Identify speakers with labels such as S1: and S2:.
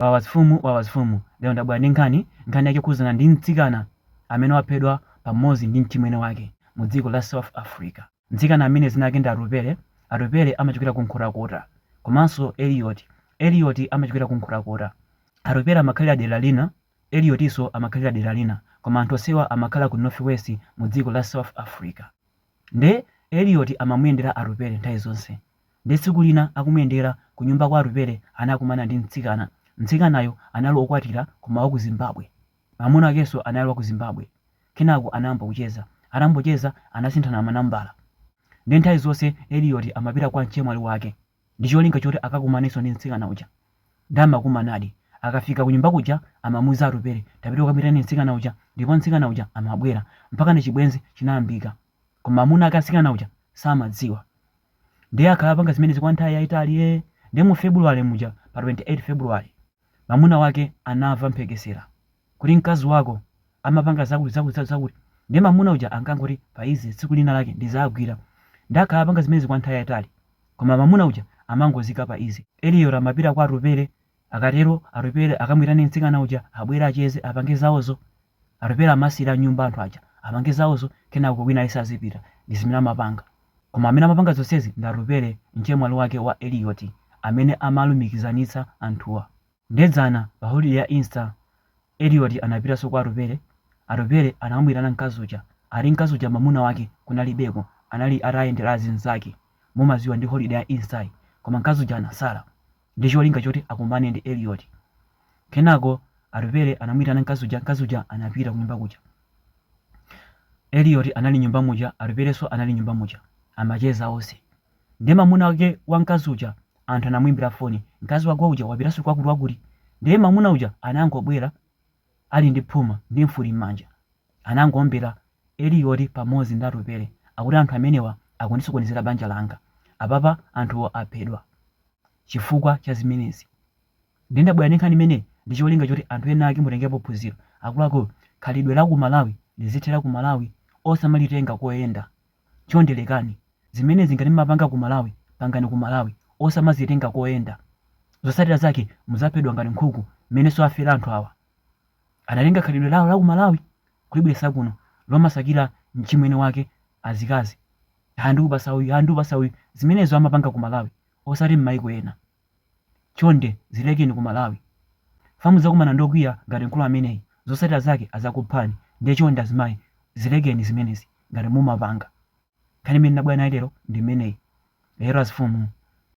S1: Wawa zfumu wawa zfumu lero ndabwera ndi nkhani, nkhani yake ikukhudzana ndi mtsikana amene waphedwa pamodzi ndi mchimwene wake mu dziko la South Africa. Mtsikana ameneyu dzina lake ndi Atupele, Atupele amachokera ku Nkhotakota komanso Elliot, Elliot amachokera ku Nkhotakota. Atupele amakhalira dera lina, Elliotinso amakhalira dera lina koma anthu onsewa amakhala ku North West mu dziko la South Africa. Nde Elliot amamuyendera Atupele nthawi zonse. Nde tsiku lina akumuyendera kunyumba kwa Atupele anakumana ndi mtsikana. Mtsikanayo anali okwatira koma waku Zimbabwe. Mamuna wakenso anali waku Zimbabwe. Kenako anayamba kucheza. Atangocheza anasinthana manambala. Nde nthawi zonse Elioti amapita kwa mchemwali wake ndicholinga choti akakumanenso ndi mtsikana uja. Nde amakumanadi. Akafika kunyumba kuja amamuuza Atupele tapita ukamuyitane mtsikana uja ndipo mtsikana uja amabwera. Mpakana chibwenzi chinayambika. koma mamuna ake wa mtsikana uja samadziwa ndiye akhala apanga zimenezi kwa nthawi yayitali ee ndiye mu february muja pa 28 february mamuna wake anamva mphekesera kuti mkazi wako amapanga zakuti zakuti zakuti zakuti ndiye mamuna uja ankangoti paize tsiku lina lake ndizagwira ndiye akhala apanga zimenezi kwa nthawi yayitali koma mamuna uja amangozika paize eliyoti amapita kwa atupele Akatero Atupele akamuitane mtsikana uja abwere acheze apange zaozo. Atupele amasiyira nyumba anthu aja apange zaozo kenako wina aliyense azipita. Ndi zimene amapanga. Koma amene amapanga zonsezi ndi Atupele mchemwali wake wa Eliot amene amalumikizanitsa anthuwa. Nde dzana pa holiday ya Easter Eliot anapitanso kwa Atupele. Atupele anakamuitana mkazi uja. Ati mkazi uja mamuna wake kunalibeko anali atayendera azinzake. Mumadziwa ndi holiday ya Easter yi. Koma mkazi uja anasala. ndi cholinga choti akumane ndi Elliot. Kenako Atupele anamuitana mkazi uja, mkazi uja anapita kunyumba kuja. Elliot anali nyumba muja, Atupelenso anali nyumba muja. Amacheza onse. Ndiye mamuna wake wa mkazi uja anthu anamuimbira foni, mkazi wako uja wapitanso kwakuti wakuti. Ndiye mamuna uja anangobwera ali ndi phuma ndi mfuti m'manja, anangoombera Elioti pamodzi ndi Atupele akuti anthu amenewa akundisokonezera banja langa. Apapa anthuwo aphedwa chifukwa cha zimenezi. Ndiye ndabwera ndi nkhani imeneyi ndi cholinga choti anthu enaake mutengepo phunziro. Akuluakulu, khalidwe la ku Malawi lizithera ku Malawi, osamalitenga koyenda. chonde lekani zimenezi ngati mmapanga ku malawi pangani ku malawi osamazitenga koyenda zotsatira zake mudzaphedwa ngati nkhuku mmenenso afera anthu awa anatenga khalidwe lawo laku malawi kulibweresa kuno lomasakira mchimwene wake azikazi ha ndikupasa uyu ha ndikupasa uyu zimenezo amapanga ku malawi osati mmaiko ena. Chonde zilekeni ku Malawi. Fam mudzakumana ndi okwiya ngati mkulu ameneyi. Zotsatira zake adzakuphani ndiye chonde azimayi zilekeni zimenezi ngati mumapanga. Nkhani imene ndinabwera nayo lero ndi imeneyi. Yewo azifumuu.